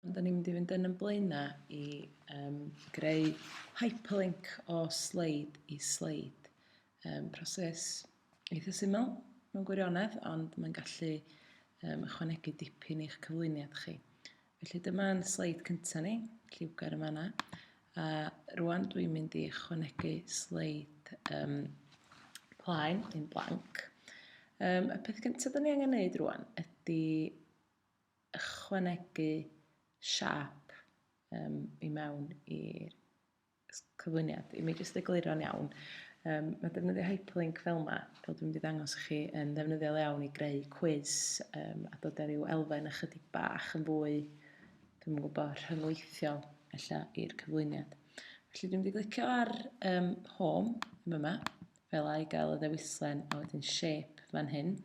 Dan ni'n mynd i fynd yn yn blaenau i um, greu hyperlink o sleid i sleid. Um, proses eitha syml mewn gwirionedd, ond mae'n gallu um, ychwanegu dipyn i'ch cyflwyniad chi. Felly dyma'n sleid cyntaf ni, lliwgar yma yna. A rwan dwi'n mynd i ychwanegu sleid um, plaen, yn blanc. Um, y peth gyntaf da ni angen neud rwan ydy ychwanegu siâp yym i mewn i'r cyflwyniad. I mi jyst egluro'n iawn, um, mae defnyddio hyperlink fel yma, fel dwi'n mynd i ddangos chi, yn ddefnyddiol iawn i greu cwiz um, a dod ar ryw elfen ychydig bach yn fwy, dwi'n yn gwybod, rhyngweithiol ella i'r cyflwyniad. Felly dwi'n mynd i glicio ar um, home yn yma, fel a i gael y ddewislen a wedyn shape fan hyn.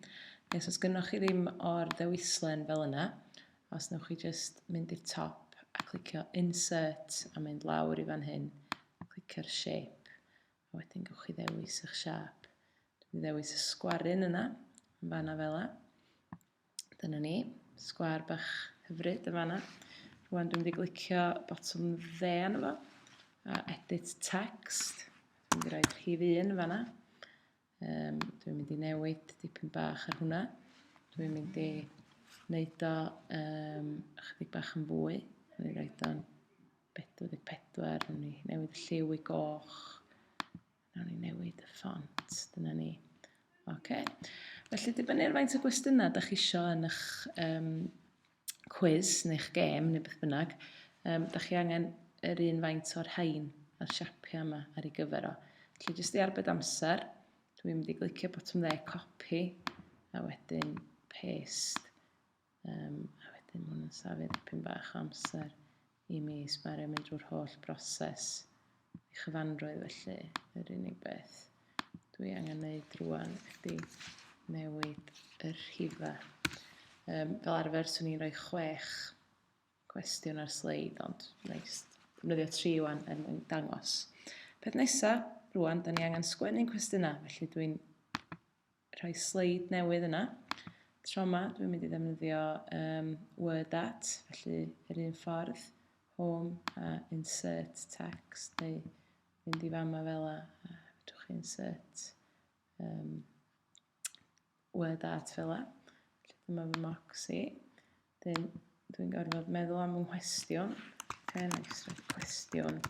Okay, so os gynnwch chi ddim o'r ddewislen fel yna, os newch chi just mynd i'r top a clicio insert a mynd lawr i fan hyn, clicio'r shape, a wedyn gwych chi ddewis eich siap. Dwi'n ddewis y sgwarun yna, yn fanna fel yna. Dyna ni, sgwar bach hyfryd yn fanna. Rwan dwi'n mynd i glicio botwm dde yna fo, a edit text. Dwi'n mynd i roed rhif un yn fanna. Um, dwi'n mynd i newid dipyn bach ar hwnna. Dwi'n mynd i wneud o um, chydig bach yn fwy. Dwi'n mynd i roed o'n 44, dwi'n mynd i newid y lliw i goch. Nawn ni newid y ffont, dyna ni. Oce. Felly, dibynnu ar faint o gwestiynau da chi isio yn eich um, quiz neu'ch gêm neu beth bynnag, um, da chi angen yr un faint o'r rhain a'r siapiau yma ar ei gyfer o. Felly, jyst i arbed amser, dwi'n mynd i glicio botwm dde copi a wedyn paste. Um, a wedyn mae'n yn safio dipyn bach o amser i mi sbario mynd drwy'r holl broses i chyfanrwydd felly yr unig beth dwi angen neud rwan ydy newid y rhifa. Um, fel arfer swn i'n rhoi chwech cwestiwn ar sleid ond neis defnyddio tri wan er mwyn dangos. Peth nesa, rwan, da ni angen sgwennu'n cwestiynau, felly dwi'n rhoi sleid newydd yna. Tro yma, dwi'n mynd i ddefnyddio um, word at, felly yr un ffordd, home a insert text, neu mynd i fama fel a, a fedrwch chi insert um, word at fel a. Felly dyma fy mocs i. Dyn, dwi'n gorfod meddwl am fy nghwestiwn. Okay, nice, cwestiwn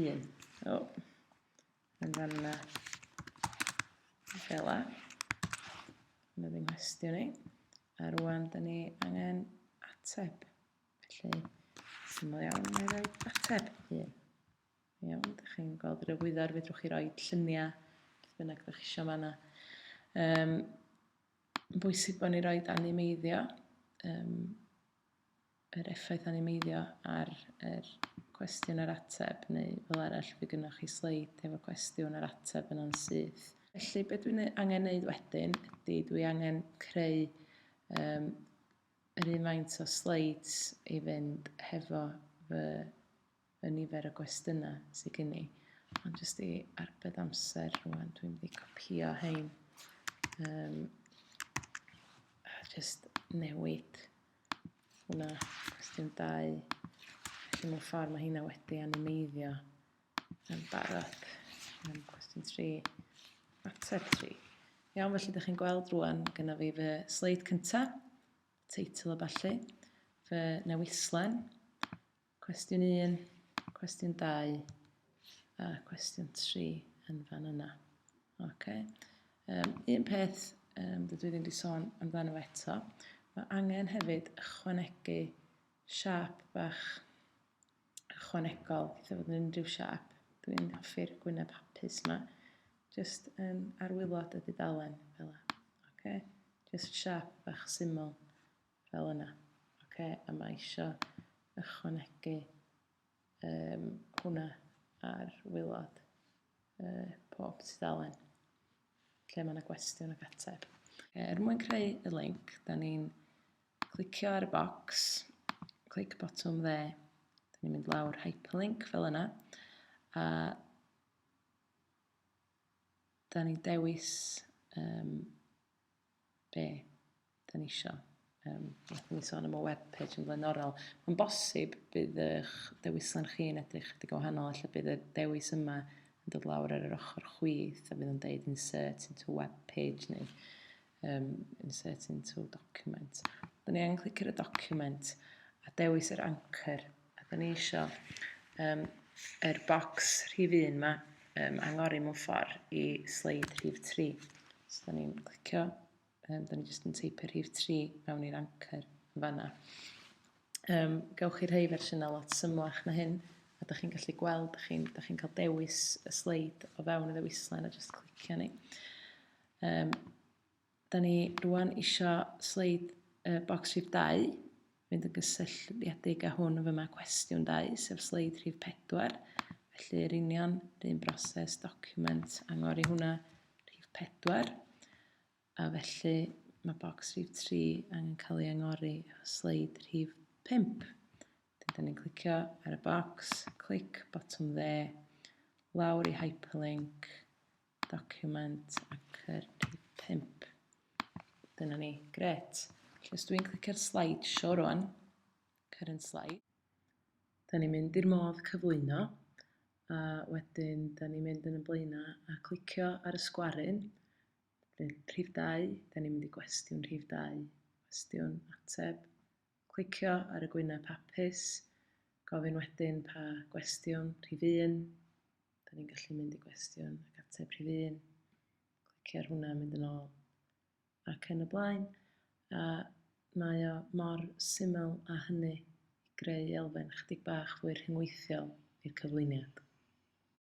un. Oh. yn fan yna. Fel la. Mae ddim hestio ni. A rwan, da ni angen ateb. Felly, syml iawn, mae rhoi ateb hyn. Iawn, da chi'n gweld yr egwyddor, fedrwch chi roi lluniau, beth bynnag da chi eisiau fanna. Um, bwysig bod ni roi animeiddio. Um, yr effaith animeiddio ar yr cwestiwn a'r ateb, neu fel arall fe gynnwch chi sleid efo cwestiwn a'r ateb yna'n syth. Felly be dwi'n angen neud wedyn ydy dwi angen creu um, yr un faint o sleids i fynd hefo fy y nifer o gwestiynau sydd gen i. Ond jyst i arbed amser rwan, dwi'n mynd i copio hein. Um, a jyst newid hwnna, cwestiwn dau. Felly mewn ffordd mae hynna wedi animeiddio yn barod. Um, cwestiwn tri, mater tri. Iawn, felly ydych chi'n gweld rwan gyda fi fy sleid cyntaf, teitl o ballu, fy newislen, Cwestiwn 1, cwestiwn 2 a cwestiwn 3 yn fan yna. Okay. Um, un peth um, dydw i ddim wedi sôn amdano eto, mae angen hefyd ychwanegu siap bach ychwanegol, eitha fod yn unrhyw siap. Dwi'n hoffi'r gwyneb hapus yma. Just um, arwylod y dudalen, fel yna. Okay. Just siap bach syml fel yna. Oce, a mae isio ychwanegu um, hwnna ar wylod uh, pob tudalen lle mae yna gwestiwn ac ateb. Okay, er mwyn creu y link, da ni'n clicio ar y box, clic botwm dde, da ni'n mynd lawr hyperlink fel yna, a da ni'n dewis um, be da ni isio. Um, Wnaethon ni sôn am y webpage yn flaenorol. Mae'n bosib bydd eich dewislen chi yn edrych chydig o wahanol, efallai bydd y dewis yma yn dod lawr ar yr ochr chwith a bydd yn deud insert into web page neu um, insert into document. Dyna ni angen clic ar y document a dewis yr anchor A da ni isio um, er bocs rhif 1 yma um, angori mewn ffordd i sleid rhif 3. So da ni'n clicio, um, da ni jyst yn teipio rhif 3 mewn i'r anchor yn fanna. Um, gawch chi rhai fersiynau lot symlach na hyn, a da chi'n gallu gweld, da chi'n chi, chi cael dewis y sleid o fewn y ddewislen a jyst clicio ni. Um, Da ni rwan isio sleid uh, bocs rhif 2, fynd yn gysylltiedig â hwn yn fyma cwestiwn 2, sef sleid rhif 4. Felly, yr union, yr un broses, document, angor i hwnna, rhif 4. A felly, mae bocs rhif 3 angen cael ei angori efo sleid rhif 5. Dyna ni'n clicio ar y bocs, clic, botwm dde, lawr i hyperlink, document a cyrru pump. Dyna ni, gret. Felly os dwi'n clicio'r slideshow rwan, current slide, da ni'n mynd i'r modd cyflwyno, a wedyn da ni'n mynd yn y blaenau a clicio ar y sgwaryn, rhif 2, da ni'n mynd i gwestiwn rhif 2, cwestiwn, ateb, Clicio ar y gwyneb hapus, gofyn wedyn pa gwestiwn, rhif un, da ni'n gallu mynd i gwestiwn ac ateb rhif un, clicio ar hwnna, mynd yn ôl ac yn y blaen. A mae o mor syml a hynny i greu elfen chydig bach fwy rhyngweithiol i'r cyflwyniad.